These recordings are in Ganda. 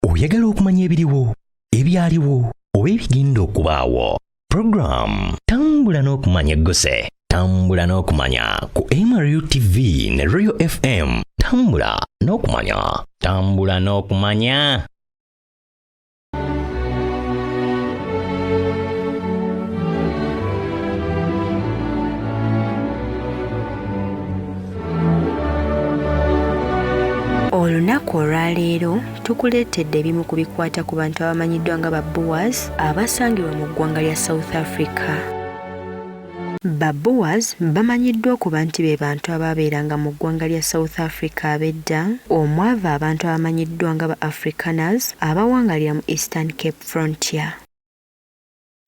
oyagala okumanya ebiriwo ebyaliwo oba ebigenda okubaawo puroguramu tambula n'okumanya egguse tambula n'okumanya ku mru tv ne royal fm tambula n'okumanya tambula n'okumanya olunaku olwaleero tukuleetedde ebimu ku bikwata ku bantu abamanyiddwa nga ba boas abasangibwa mu ggwanga lya south africa ba boas bamanyiddwa okuba nti be bantu abaabeeranga mu ggwanga lya south africa ab'edda omwava abantu abamanyiddwa nga ba africaners abawangalira mu eastern cape frontier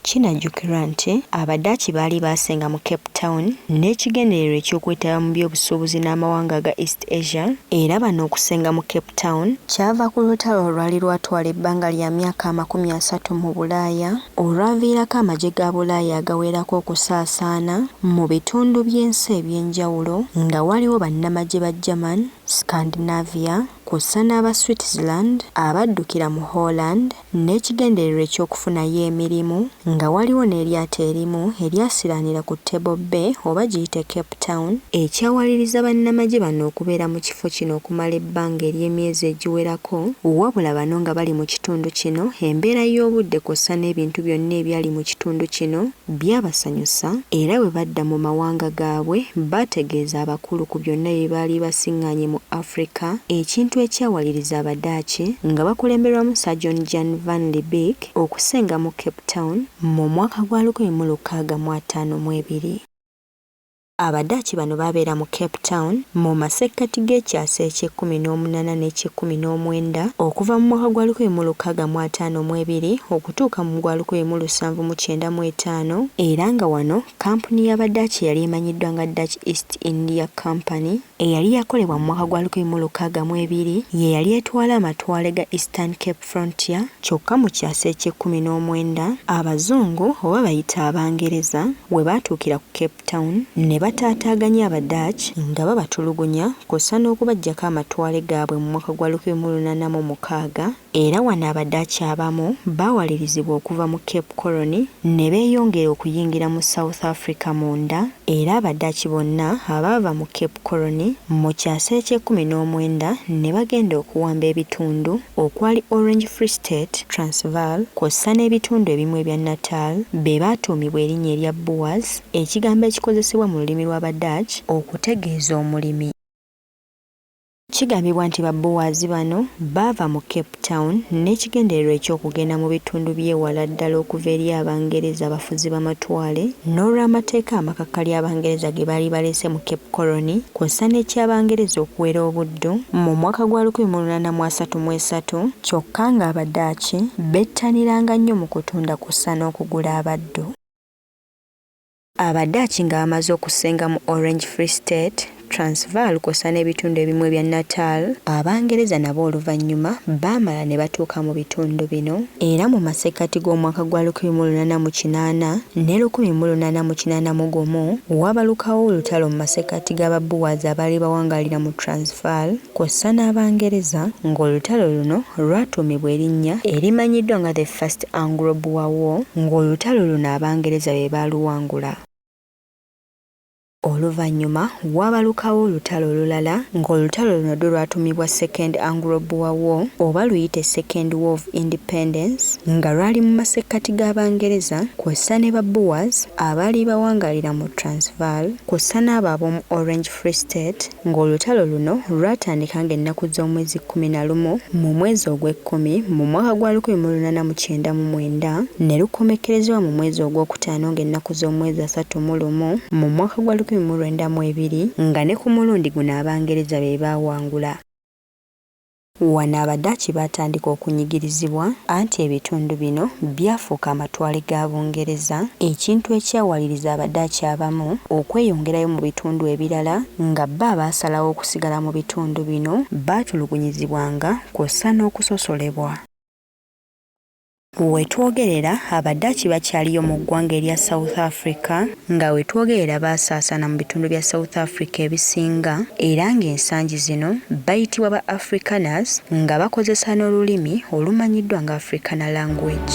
Kinajjukirwa nti Abadaaki baali baasenga mu Cape Town n'ekigendererwa eky'okwetaba mu by'obusuubuzi n'amawanga aga East Asia era bano okusenga mu Cape Town kyava ku lutalo olwali lwatwala ebbanga lya myaka amakumi asatu mu Bulaaya olwaviirako amagye ga Bulaaya agawerako okusaasaana mu bitundu by'ensi eby'enjawulo nga waliwo bannamagye ba German, Scandinavia, kw'ossa n'aba Switzerland abaddukira mu Holland n'ekigendererwa eky'okufunayo emirimu nga waliwo n'eryato erimu eryasiraanira ku Table Bay oba giyite Cape Town ekyawaliriza bannamagye bano okubeera mu kifo kino okumala ebbanga ery'emyezi egiwerako wabula bano nga bali mu kitundu kino embeera y'obudde kw'ossa n'ebintu byonna ebyali mu kitundu kino Byabasanyusa, era bwe badda mu mawanga gaabwe baategeeza abakulu ku byonna bye baali basiŋŋaanye mu Afrika, ekintu ekyawaliriza Abadaaki nga bakulemberwamu Sir John Jan van Lee Beek okusenga mu Cape Town mu mwaka gwa lukumi mu lukaaga mu ataano mu ebiri. Abadaaki bano baabeera mu Cape Town mu masekkati g'ekyasa eky'ekkumi n'omunaana n'eky'ekkumi n'omwenda, okuva mu mwaka gwa lukumi mu lukaaga mu ataano mu ebiri okutuuka mu gwa lukumi mu lusanvu mu kyenda mu etaano, era nga wano kkampuni y'Abadaaki eyali emanyiddwa nga Dutch East India Company, eyali yakolebwa mu mwaka gwa lukumi mu lukaaga mu ebiri, ye yali etwala amatwale ga Eastern Cape. Frontier, kyokka mu kyasa eky'ekkumi n'omwenda Abazungu oba bayite Abangereza we baatuukira ku Cape Town ne bataataaganya Abadutch nga babatulugunya kw'ossa n'okubaggyako amatwale gaabwe mu mwaka gwa lukumi mu lunaana mu mukaaga era wano Abadutch abamu baawalirizibwa okuva mu Cape Colony ne beeyongera okuyingira mu South Africa munda era Abadutch bonna abaava mu Cape Colony mu kyasa eky'ekkumi n'omwenda ne bagenda okuwamba ebitundu okwali Orange Free State, Transvaal kw'ossa n'ebitundu ebimu ebya Natal be baatuumibwa erinnya erya Boers, ekigambo ekikozesebwa mu lulimi lw'Abadutch okutegeeza omulimi. Kigambibwa nti ba Boers bano baava mu Cape Town n'ekigendererwa eky'okugenda mu bitundu by'ewala ddala okuva eri Abangereza abafuzi b'amatwale n'olw'amateeka amakakali Abangereza ge baali baleese mu Cape Colony, kwossa n'eky'Abangereza okuwera obuddu mu mwaka gwa lukumi mu lunaana mu asatu mu esatu kyokka ng'Abadaaki bettaniranga nnyo mu kutunda kwossa n'okugula abaddu. Abadaaki nga bamaze okusenga mu Orange Free State, Transvaal kwossa n'ebitundu ebimu ebya Natal, Abangereza nabo oluvannyuma baamala ne batuuka mu bitundu bino. Era mu masekkati g'omwaka gwa lukumi mu lunaana mu kinaana ne lukumi mu lunaana mu kinaana mu gumu, waabalukawo olutalo mu masekkati ga Baboers abaali bawangaalira mu Transvaal kw'ossa n'Abangereza, ng'olutalo luno lwatuumibwa erinnya erimanyiddwa nga The First Anglo-Boer War, ng'olutalo luno Abangereza be baaluwangula. Oluvannyuma waabalukawo olutalo olulala ng'olutalo luno do lwatumibwa Second Anglo Boer War oba luyite Second War of Independence nga lwali mu masekkati g'Abangereza kwossa ne ba Boers abaali bawangalira mu Transvaal kwossa n'abo ab'omu Orange Free State Ng'olutalo luno lwatandika ng'ennaku z'omwezi kkumi na lumu mu mwezi ogw'ekkumi mu mwaka gwa lukumi mu lunaana mu kyenda mu mwenda, ne lukomekkerezebwa mu mwezi ogw'okutaano ng'ennaku z'omwezi asatu mu lumu mu mwaka gwa lukumi mu lwenda mu ebiri, nga ne ku mulundi guno Abangereza be baawangula. Wano Abadaaki baatandika okunyigirizibwa, anti ebitundu bino byafuuka amatwale ga Bungereza, ekintu ekyawaliriza Abadaaki abamu okweyongerayo mu bitundu ebirala, nga bo abaasalawo okusigala mu bitundu bino baatulugunyizibwanga kw'ossa n'okusosolebwa. Wetwogerera Abadaaki bakyaliyo mu ggwanga erya South Africa nga wetwogerera baasaasaana mu bitundu bya South Africa ebisinga era ng'ensangi zino bayitibwa ba Afrikaners nga bakozesa n'olulimi olumanyiddwa nga Afrikaner language.